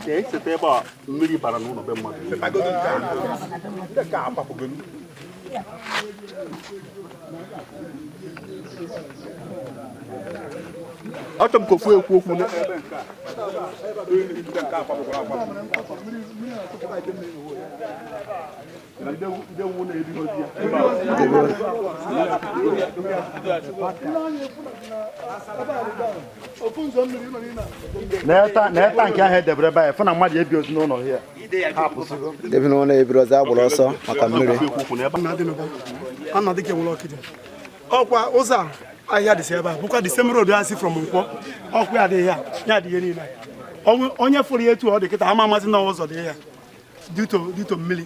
Ee, site ebe a mmiri bara n'ụlọ be mmadụ. achọrọ m ka ofu ekwu okwu na-eta nke ahụ edebere ebe anyị fụ na mmadụ ebirozi n'ụlọ ya ndị bi n'ụnọ ebirozi agbara ọsọ maka mmiri ọkwa ụzọ a ahịhịa dịsị ebe a bụkwa the same road a si from nkwọ ọkwa ya adịghị ya ya adịghị niile onye fụrụ ya etu ọ dị kịta ama amazi na ụzọ dị ya due to mmiri